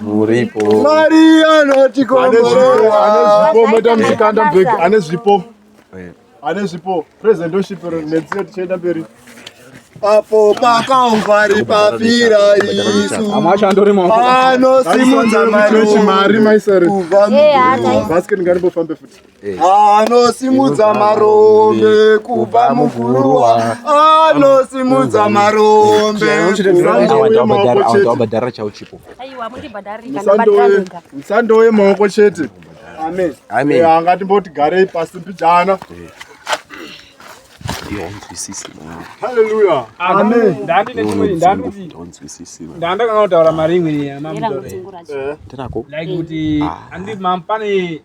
muripo mari anotikomboreaanezvipo msikanda mbeki ane zvipo ane zvipo presentoship netsio tichienda mberi apo pakaungwari papira isu anosimudza mari maisaribasket ngarimbofambe futi anosimudza marombe kubva muguruwa anosimudza marombe musando wemaoko chete anga timboti garei pasi mbijana haleluya ndandakanga kutaura maringo ndinako like kuti andi mampane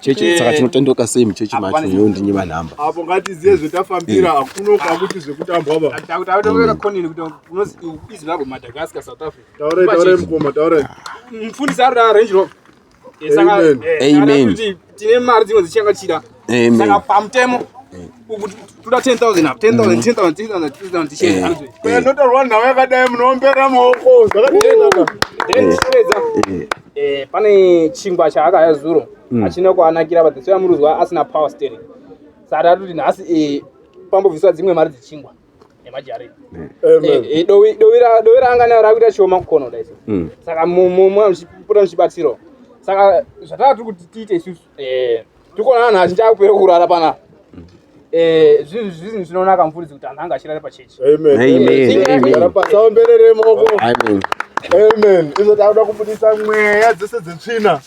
chechi saka tinotendeuka sei muchechi macho iyo ndinyima nhamba apo ngatiziye zvetafambira hakuno kwakuti zvekutambwa bamufundisi arikuda range rover amen tine mari dzimwe dzichakachira saka pamutemo toda 10000 apo 10000 10000 10000 10000 tichenda anzwe kana ndotarwa nhau yakadai munombera maoko zvakadii eh pane chingwa chaakaya zuro achina mm. kuanakira but tsoya muruzwa asina power steering saka tatoti nhasi eh pambobviswa dzimwe mari dzechingwa nemajari dovi raanga nayo rakuita chioma kukono dai mm. saka mumwe muchipota muchibatsirawo saka zvatava tiri kuti tiite isusu eh, tikuona vanhu vazhinji akupera kurara pana mm. eh, zvinhu zvinhu zvinonaka mfuridzi kuti anhu anga achirare pachechi aomberere moko amen izvo takuda kubudisa mweya dzese dzetsvina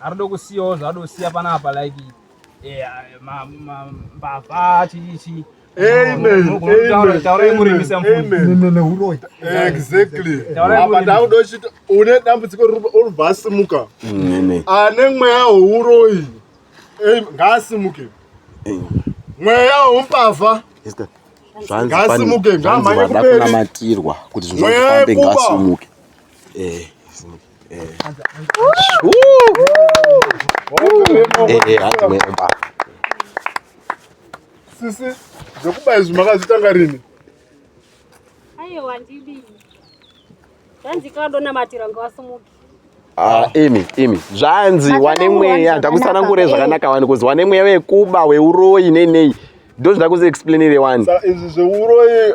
arikuda kusiyawo zvaada kusiya panapa like eh, mbavha chii chii une dambudziko unobva asimuka mm, ane mweya wouroyi ngaasimuke mweya woumbavha ngaasimuke ngaamhanye kuberimweya yekuba eh, sisi zvekuba izvi makazvitanga rini aiwa ndidii zvanzi kadonamatira ngawasumuki Ah, imi imi zvanzi wane mweya ndakusanangure zvakanaka wani kuzi wane mweya wekuba weuroyi nei nei ndozvida kuziexplainire wani izvi zveuroyi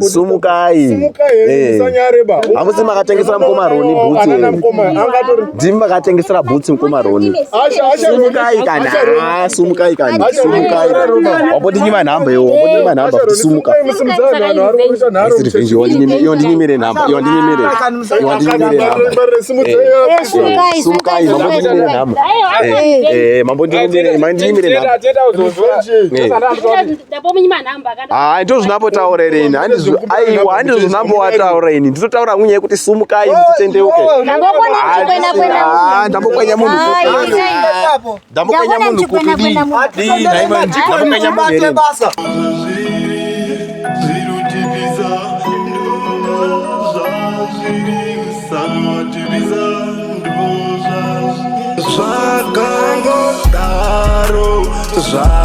sumukai hamusi makatengesera mukoma roni bhutsi ndimi makatengesera bhutsi mukoma roni sumukai kana sumukai kana sumukai wambotinyima nhamba iwo wambotinyima nhamba kuti sumuka iyo ndinyimire nhamba iyo ndinyimire iyo ndinyimire nhamba sumukai mambo ndinyimire nhamba mambo ndinyimire nhamba Haa ndizvo zvinambotaura ere ini aiwa handizvo zvinamboataura ini ndinotaura kunye kuti sumukai mutendeuke ndambokwenya munhu ndambokwenya munhu kudii ndambokwenya munhu